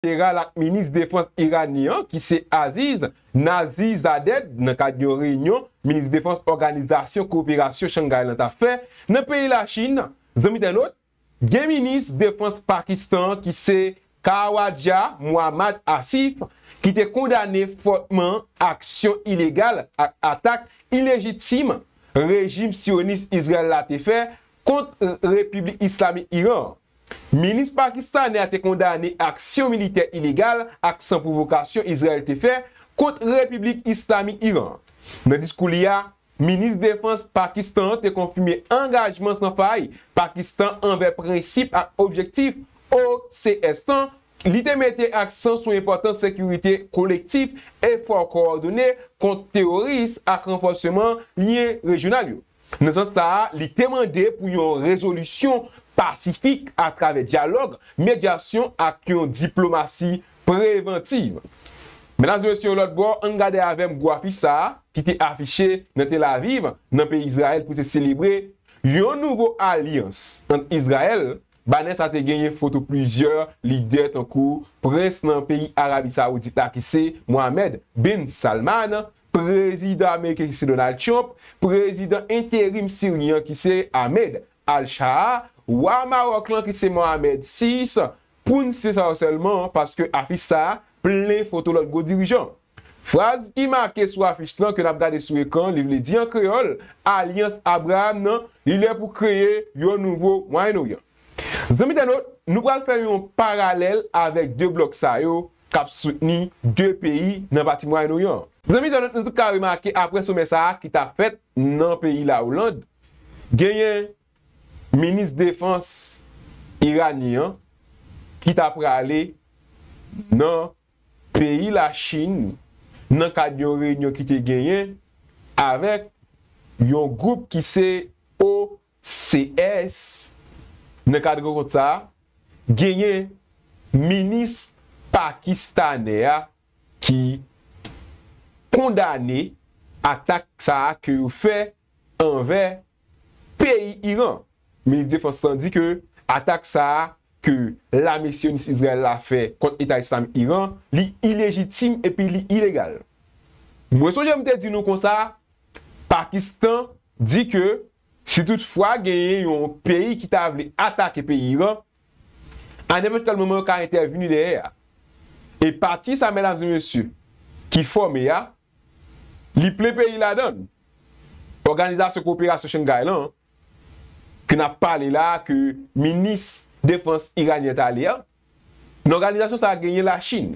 Bilateral ak Minis Defans Iranyen an ki se Aziz Nazizadeh nan kad yon reyinyon Minis Defans Òganizasyon Koperasyon Shanghai lan ta fè nan peyi Lachin. Zanmitay lòt, gen Minis Defans Pakistan an ki se Khawaja Muhammad Asif ki te kondane fòtman aksyon ilegal ak atak ilejitim rejim Syonis Izrayèl la te fè kont Repiblik Islamik Iran an. Minis pakistanè a te kondane aksyon militè ilegal ak san pwovokasyon Izrayèl te fè kont Repiblik Islamik Iran an. Nan diskou li a, Minis Defans Pakistan an te konfime angajman san fay Pakistan anvè prensip ak objektif OCS lan, li te mete aksan sou enpòtans sekirite kolektif, efò kowòdone kont teworis ak ranfòseman lyen rejyonal yo. Nan sans sa a, li te mande pou yon rezolisyon pasifik atravè dyalòg, medyasyon ak yon diplomasi prevantiv. Medam e mesye yon lòt bò, an n gade avè m gwo afich sa a ki te afiche nan Tel Aviv, nan peyi Izrayèl pou te selebre yon nouvo alyans ant Izrayèl. Banè sa a te genyen foto plizyè lidè tankou prens nan peyi Arabi Sawoudit la ki se Mohammed bin Salman, Prezidan ameriken ki se Donald Trump, prezidan enterim siryen an ki se Ahmed al-Sharaa, wa Maròk lan ki se Mohamed vi, pou n site sa yo sèlman, paske afich sa a plen foto lòt gwo dirijan. Fraz ki make sou afich lan ke n ap gade sou ekran li vle di an kreyòl, Alyans Abraam nan, li lè pou kreye yon nouvo Mwayen Oryan. Zanmi entènot, nou pral fè yon paralèl avèk de blòk sa yo k ap soutni 2 peyi nan pati Mwayen Oryan an. Zanmi entènèt nou tout ka remake aprè somè sa a ki ta fèt nan peyi Lawoland, genyen minis defans iranyen an ki ta prale nan peyi Lachin nan kad yon reyinyon ki te genyen avèk yon gwoup ki se Haut CS, Nan kad rankont sa a, genyen minis pakistanè a ki kondane atak sa a ke yo fè anvè peyi Iran. Minis defans lan di ke atak sa a ke lame siyonis Izrayèl la fè kont Eta Islamik Iran, li ilejitim epi li ilegal. Mwen sonje m te di nou konsa, Pakistan di ke si tout fwa genyen yon peyi ki ta vle atake peyi Iran, a nenpòt kèl moman yo ka entèvni dèyè a. E pati sa medam e mesye ki fòme a, li plen peyi ladann. Òganizasyon Koperasyon Shanghai lan ke nap pale la ke minis defans iranyen t ale an, Nan òganizasyon sa a genyen Lachin,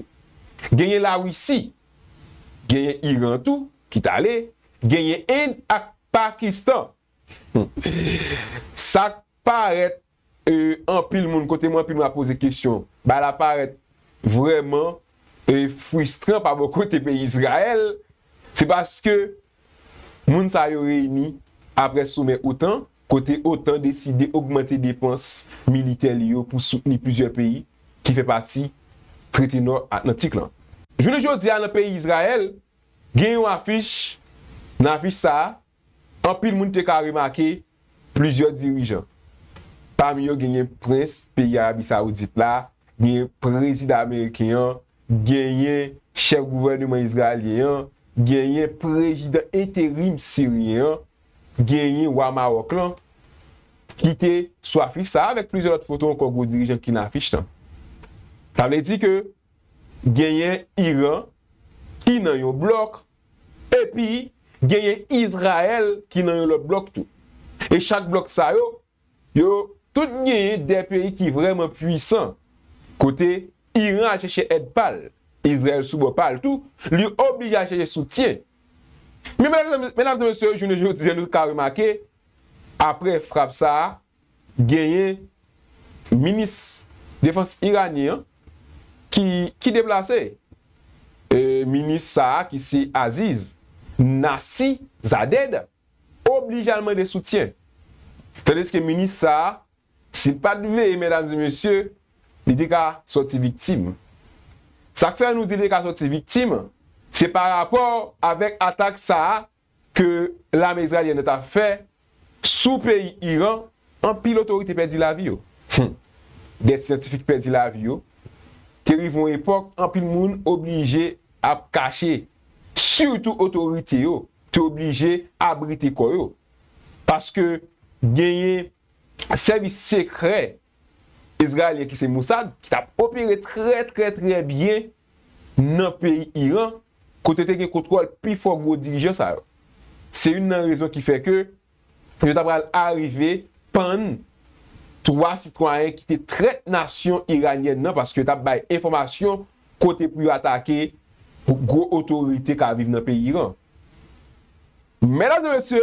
genyen Lawisi, genyen Iran tou ki t ale, genyen End ak Pakistan. Sa k parèt anpil moun, kote mwen anpil moun ap poze kesyon, bagay la parèt vrèman fristran pa bò kote peyi Izrayèl, se paske Moun sa yo reyini apre somè otan, kote otan deside ogmante depans militè li yo pou soutni plizyè peyi ki fè pati Trete Nò Atlantik lan. Jounen jodi a nan peyi Izrayèl, gen yon afich, nan afich sa a, anpil moun te ka remake Plizyè dirijan, pami yo genyen prens peyi Arabi Sawoudit la, genyen prezidan ameriken an, genyen chèf gouvèneman izrayelyen an, genyen prezidan enterim siryen an, genyen wa Mawòk lan, ki te sou afich sa a avèk plizyè lòt foto ankò gwo dirijan ki nan afich lan. Sa vle di ke genyen Iran ki nan yon blòk Epi, genyen Izrayèl ki nan yon lòt blòk tou. E chak blòk sa yo, yo tout genyen de peyi ki vrèman puisan. Kote Iran al chèche èd pa l, Izrayèl sou bò pa l tou, li oblije al chèche soutyen. Men, medam e mesye, jounen jodi a nou ka remake, apre frap sa a, genyen minis defans iranyen an ki deplase. Minis sa a ki se Aziz Nasi Zadeh oblije al mande soutyen. Tandiske minis sa a si l pat veye medam e mesye li te ka sòti viktim. Sa k fè nou di li te ka sòti viktim se pa rapò avèk atak sa a ke lame izraelyèn nan ta fè sou peyi Iran, anpil otorite pèdi lavi yo. Hum! Dè syantifik pèdi lavi yo. Te rive yon epòk anpil moun oblije ap kache, sitou otorite yo te oblije abrite kò yo. Paske genyen sèvis sekrè Izrayelyen ki se Mossad ki tap opere trè trè trè byen nan peyi Iran kote te gen kontwòl pi fò gwo dirijan sa yo. Se youn nan rezon ki fè ke yo ta pral arive pann 3 sitwayen ki te trèt nasyon iranyèn nan paske yo tap bay enfòmasyon kote pou yo atake gwo otorite ka viv nan peyi Iran. Medam e mesye,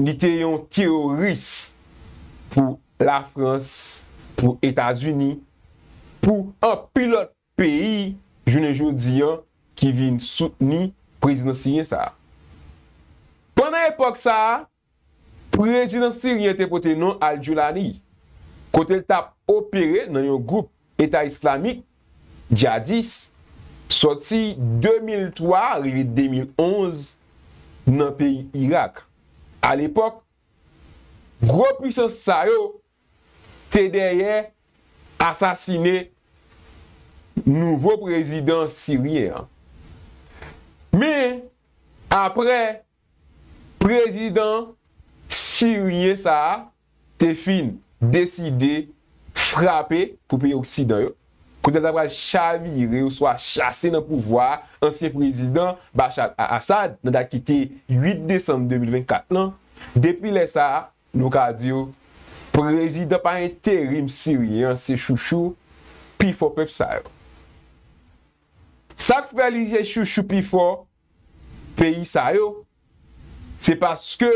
Li te yon teroris pou Lafrans, pou Etazini, pou anpil lòt peyi jounen jodi an ki vin soutni prezidan siryen sa a. Pandan epòk sa a, prezidan siryen te pote non al-Joulani, kote l t ap opere nan yon gwoup Eta Islamik, djadis, sòti 2003 rive 2011 nan peyi Irak. Alepòk, gwo pwisans sa yo te dèyè asasine nouvo prezidan siryen an. Men, apre Prezidan siryen sa a te fin deside frape pou peyi oksidan yo kote l ta pral chavire oswa chase nan pouvwa a ansyen prezidan Bashar al-Assad nan dat ki te 8 desanm 2024 lan. Depi lè sa a, nou ka di w, prezidan pa enterim siryen an se chouchou pifò pèp sa yo. Sa k fè li se chouchou pifò peyi sa yo, se paske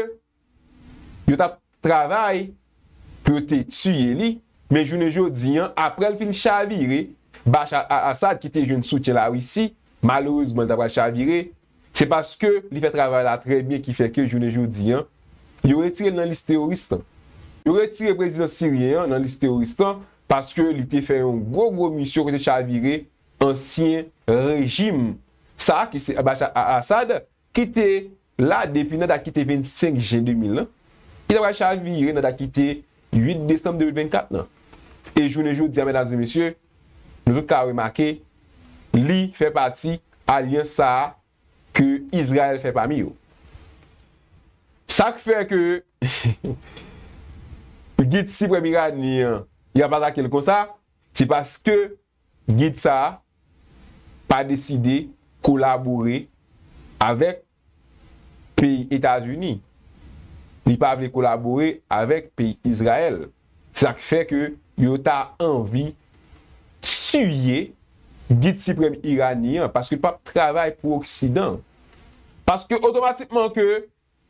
yo t ap travay pou yo te tiye li, men jounen jodi an, apre l fin chavire, Bashar al-Assad ki te jwenn soutyen Larisi, malerezman li ta pral chavire, se paske li fè travay la trè byen ki fè ke jounen jodi an, yo retire l nan lis teworis lan. Yo retire prezidan siryen an nan lis teworis lan, paske li te fè yon gwo gwo misyon ki te chavire Ansyen rejim sa a ki se Bashar al-Assad ki te la depi nan dat ki te 25 jen 2000 lan, ki ta pral chavire nan dat ki te 8 desanm 2024 lan. E jounen jodi a medam e mesye, nou tout ka remake li fè pati alyans sa a ke Izrayèl fè pami yo. Sa k fè ke Gid Siprèm Iranyen an y ap atake l konsa, se paske Gid sa a pa deside kolabore avèk peyi Etazini, li pa vle kolabore avèk peyi Izrayèl, se sa k fè ke yo ta anvi tiye Gid Siprèm Iranyen an, paske l pap travay pou Oksidan. Paske otomatikman ke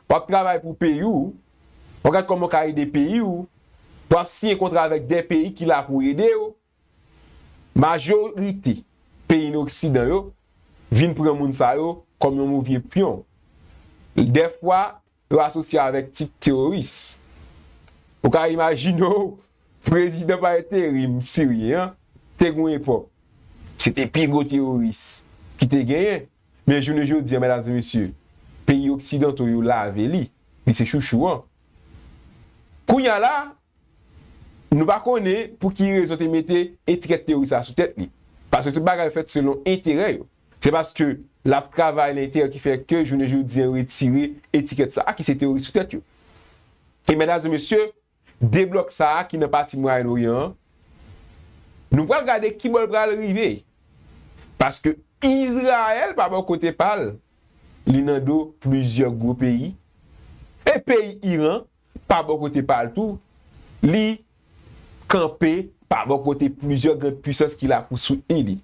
w ap travay pou peyi w, w ap gad kòman w ka ede peyi w, w ap siyen kontra avèk de peyi ki la pou ede w, Majorite peyi n oksidan yo vin pran moun sa yo kòm yon movye pyon. Dèfwa yo asosye yo avèk tit teworis. Ou ka imajine w prezidan pa enterim siryen an te gen yon epòk se te pi gwo teworis ki te genyen men jounen jodi an medam e mesye peyi oksidanto yo lave li, li se chouchou an. Kounya la Nou pa konnen pou ki rezon yo te mete etikèt teworis la sou tèt li. Paske tout bagay fèt selon enterè yo. Se paske l ap travay nan enterè ki fè ke jounen jodi an yo retire etikèt sa a ki se teworis sou tèt yo. E medam e mesye, de blòk sa a ki nan pati Mwayen Oryan an, nou pral gade kibò l pral rive. Paske Izrayèl pa bò kote pa l, li nan do plizyè gwo peyi. E peyi Iran Pa bò kote pa l tou, li kanpe pa bò kote plizyè grand pwisans ki la pou soutni li.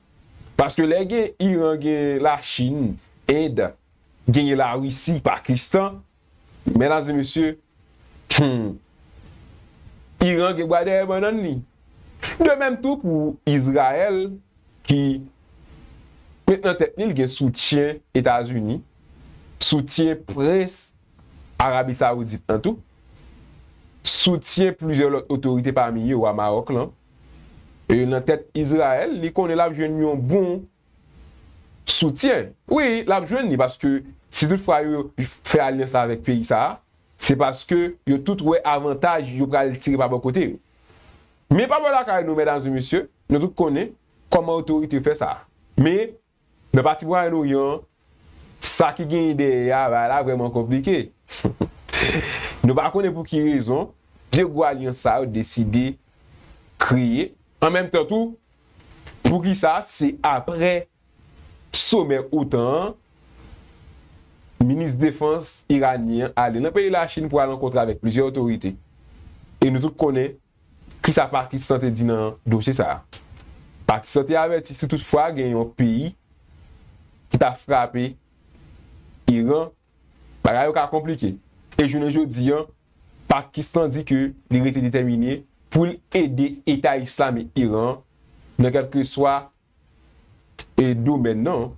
Paske lè gen Iran gen Lachin, End, genyen Larisi, Pakistan, mèdam e mesye, hum, Iran gen bwa dèyè bannann li. De mèm tou pou Izrayèl ki met nan tèt li l gen soutyen Etazini, soutyen prens Arabi Sawoudit nan tou, soutyen plizyè lòt otorite pami yo wa Maròk lan, nan tèt Izrayèl, li konnen l ap jwenn yon bon soutyen. Wi, l ap jwenn li paske si tout fwa yo fè alyans avèk peyi sa a, se paske yo tout wè avantaj yo pral tire pa bò kote yo. Men pa bò lakay nou, medam e mesye, nou tout konnen kòman otorite yo fè sa. Men, Nan pati Mwayen Oryan an, sa ki genyen dèyè a, bagay la vrèman konplike. Nou pa konnen pou ki rezon, de gwo alyans sa yo deside kreye. An menm tan tou, pou ki sa se apre somè otan an, minis defans iranyen an ale nan peyi Lachin pou al rankontre avèk plizyè otorite. E nou tout konnen Kisa Pakistan te di nan dosye sa a? Pakistan te avèti si tout fwa gen yon peyi ki ta frape Iran, bagay yo ka konplike. E jounen jodi an, Pakistan di ke li rete detèmine pou l ede Eta Islamik Iran nan kèlkeswa e domèn nan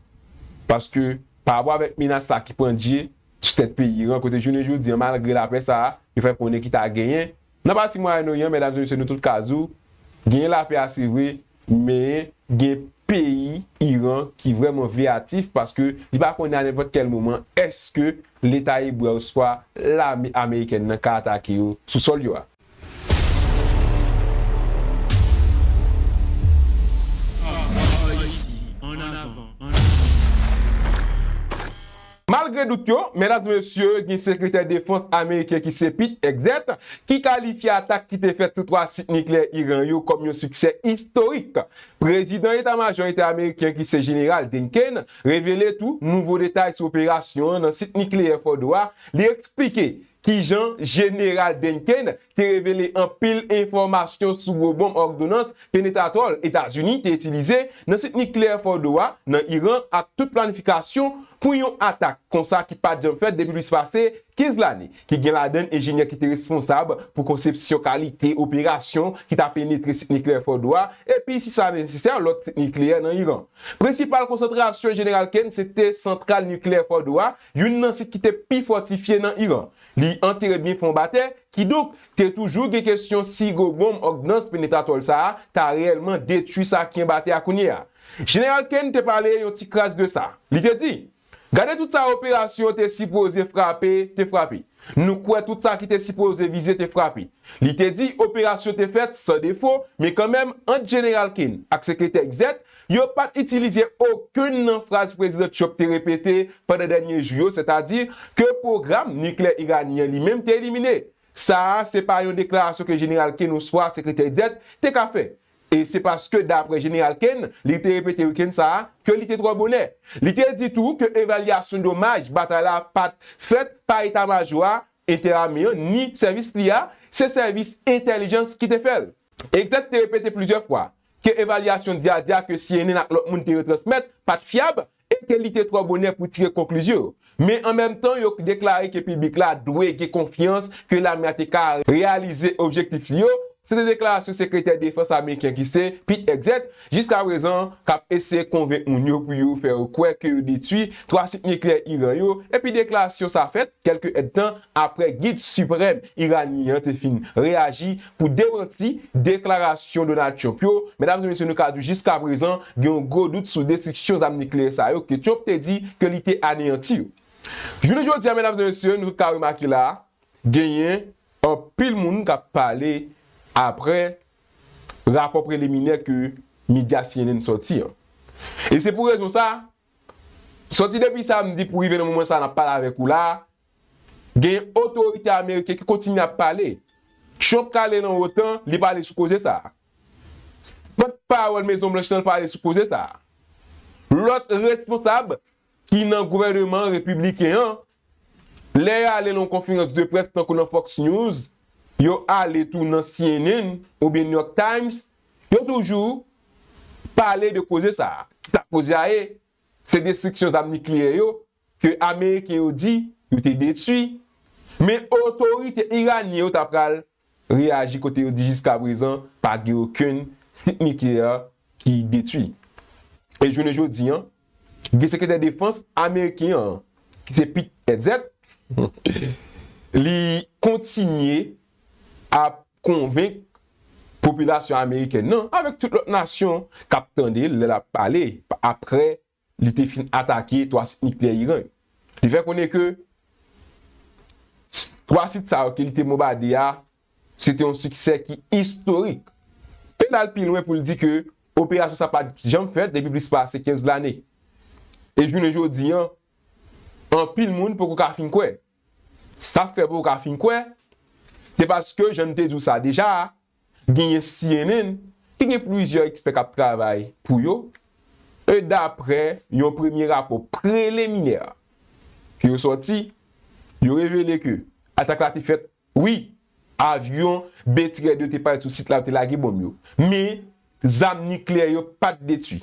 paske pa rapò avèk menas sa ki pran dye sou tèt peyi ran kote jounen jodi an malgre lapè sa yo fè konnen ki ta genyen nan pati mwayen oryan medam e mesye nou tout ka di w genyen lapè a se vre men gen peyi iran ki vrèman veyatif paske li pa konnen a nenpòt kèl moman èske leta ebre oswa lame amerikèn nan ka atake yo sou sòl yo a. Malgre dout yo, medam e mesye, gen sekretè defans ameriken ki se Pete Hegseth ki kalifye atak ki te fèt sou 3 sit nikleyè Iran yo kòm yon siksè istorik. Prezidan eta majò eta ameriken ki se Jeneral Denken revele tou nouvo detay sou operasyon an nan sit nikleyè Fordo a, li eksplike Kijan Jeneral Duncan te revele anpil enfòmasyon sou gwo bonm òdonans penetratwòl Etazini te itilize nan sit nikleyè Fordo a nan Iran ak tout planifikasyon pou yon atak konsa ki pat janm fèt depi plis pase 15 lane, ki gen ladann enjenyè ki te responsab pou konsepsyon kalite operasyon ki ta penetre sit nikleyè Fordo a epi si sa nesesè lòt sit nikleyè nan Iran. Prensipal konsantrasyon Jeneral Ken se te santral nikleyè Fordo a youn nan sit ki te pi fòtifye nan Iran. Li antere byen fon ba tè, kidonk, te toujou gen kesyon si gwo bonm òdnans penetratòl sa a ta reyèlman detwi sa ki anba tè a kounye a. Jeneral Ken te pale yon ti kras de sa. Li te di, Gade tout sa operasyon te sipoze frape, te frape. Nou kwè tout sa ki te sipoze vize te frape. Li te di operasyon te fèt san defo, men kanmenm, ant Jeneral Ken ak Sekretè Xet, Yo pa t itilize okenn nan fraz Prezidan Trump te repete pandan dènye jou yo, sètadi ke pwogram niklè iranyen an li menm te elimine. Sa a se pa yon deklarasyon ke Jeneral Ken oswa Sekretè Dett te ka fè. E se paske dapre Jeneral Ken, li te repete wikenn sa a, ke li te twò bonè. Li te di tou ke evalyasyon domaj batay la pa t fèt pa eta majo a entèame an ni sèvis li a, se sèvis entèlijans ki te fè l. Exet te repete plizyè fwa ke evalyasyon Diadia ke cnn ak lòt moun te retransmèt pa t fyab e ke li te twò bonè pou tire konklizyon yo. Men an menm tan yo deklare ke piblik la dwe gen konfyans ke lame a te ka reyalize objektif li yo, se te deklarasyon sekretè defans ameriken ki se Pete Hegseth jiska prezan k ap eseye konvenk moun yo pou yo fè yo kwè ke yo detwi 3 sit nikleyè Iran yo epi deklarasyon sa fèt kèlke èdtan apre Gid Siprèm Iranyen an te fin reyaji pou demanti deklarasyon Donald Trump yo, medam e mesye nou ka di jiska prezan gen yon gwo dout sou destriksyon zam nikleyè sa yo ke Trump te di ke li te aneyanti yo. Jounen jodi a medam e mesye nou ka remake la genyen anpil moun kap pale apre rapò preliminè ke medya cnn sòti an. E se pou rezon sa, sòti depi samdi pou rive nan moman sa nap pale avèk ou la, Genyen otorite ameriken ki kontinye ap pale. Trump k ale nan otan, li pale sou koze sa a. Pòt pawòl Mezon Blanch lan pale sou koze sa a. Lòt responsab ki nan gouvèneman repibliken an, lè yo ale nan yon konferans de près tankou nan Fox News, yo ale tou nan cnn oubyen New York Times, yo toujou pale de koze sa a. Ki sa koze a ye? Se destriksyon zam nikleyè yo ke ameriken yo di yo te detwi, men otorite iranyen yo ta pral reyaji kote yo di jiskaprezan pa gen okenn sit nikleyè ki detwi. E jounen jodi an, gen sekretè defans ameriken an ki se Pete Hegseth, li kontinye ap konvenk popilasyon amerikèn nan, avèk tout lòt nasyon k ap tande l lè l ap pale, aprè li te fin atake 3 sit nikleyè Iran yo. Li fè konnen ke 3 sit sa yo ke li te bonbade a, se te yon siksè ki istorik. E l al pi lwen pou l di ke operasyon sa pat janm fèt depi plis pase 15 lane. E jounen jodi an, anpil moun poko ka fin kwè. Sa fè poko ka fin kwè, se paske jan n te di w sa deja a, genyen cnn ki gen plizyè ekspè kap travay pou yo e daprè yon premye rapò preliminè ke yo sòti yo revele ke atak la te fèt wi avyon Betrayèd yo te pale sou sit la yo te lage bonm yo men zam nikleyè yo pat detwi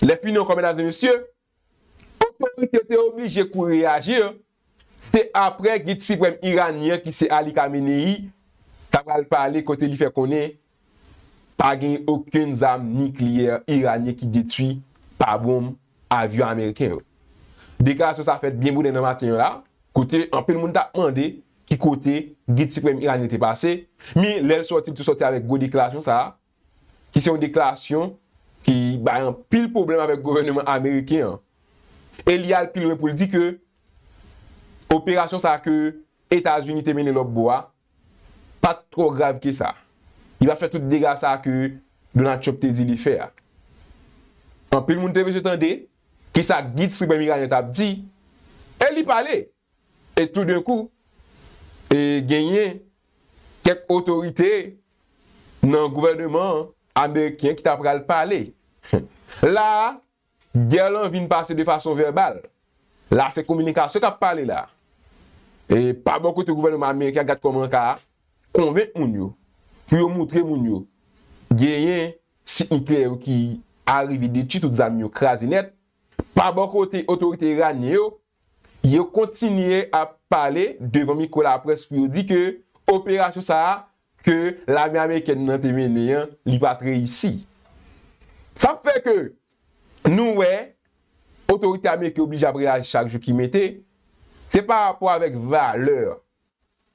lè fini ankò medam e mesye Otorite te oblije kouri reyaji, se aprè gid siprèm iranyen an ki se Ali Khamenei ta pral pale kote li fè konnen pa gen okenn zam nikleyè iranyen ki detwi pa bonm avyon ameriken yo. Deklarasyon sa fèt byen bonè nan maten an la kote anpil moun tap mande ki kote gid siprèm iranyen te pase, men lè l sòti li te sòti avèk gwo deklarasyon sa. ki se yon deklarasyon ki bay anpil pwoblèm avèk gouvèneman ameriken an e li al pi lwen pou l di ke operasyon sa ke Etazini te mennen lòt bò a pa t twò grav ke sa, li pa fè tout dega sa ke Donald Trump te di li fè a. Anpil moun te bezwen tande kisa Gid Siprèm Iranyen t ap di e li pale! E toudenkou, e genyen kèk otorite nan gouvèneman ameriken ki ta pral pale. La a, gè lan vin pase de fason vèbal. La a se kominikasyon k ap pale la. E pa bò kote gouvèneman ameriken an, gad kòman ka konvenk moun yo, pou yo moutre moun yo genyen sit nikleyè yo ki arive detui tout zam yo, kraze nèt. Pa bò kote otorite iranyen yo, Yo kontinye ap pale devan mikwo laprès pou yo di ke operasyon sa a ke lame amerikèn nan te mennen an li pat reyisi. Sa fè ke nou wè otorite ameriken oblije ap reyaji chak jou ki mete, se pa rapò avèk valè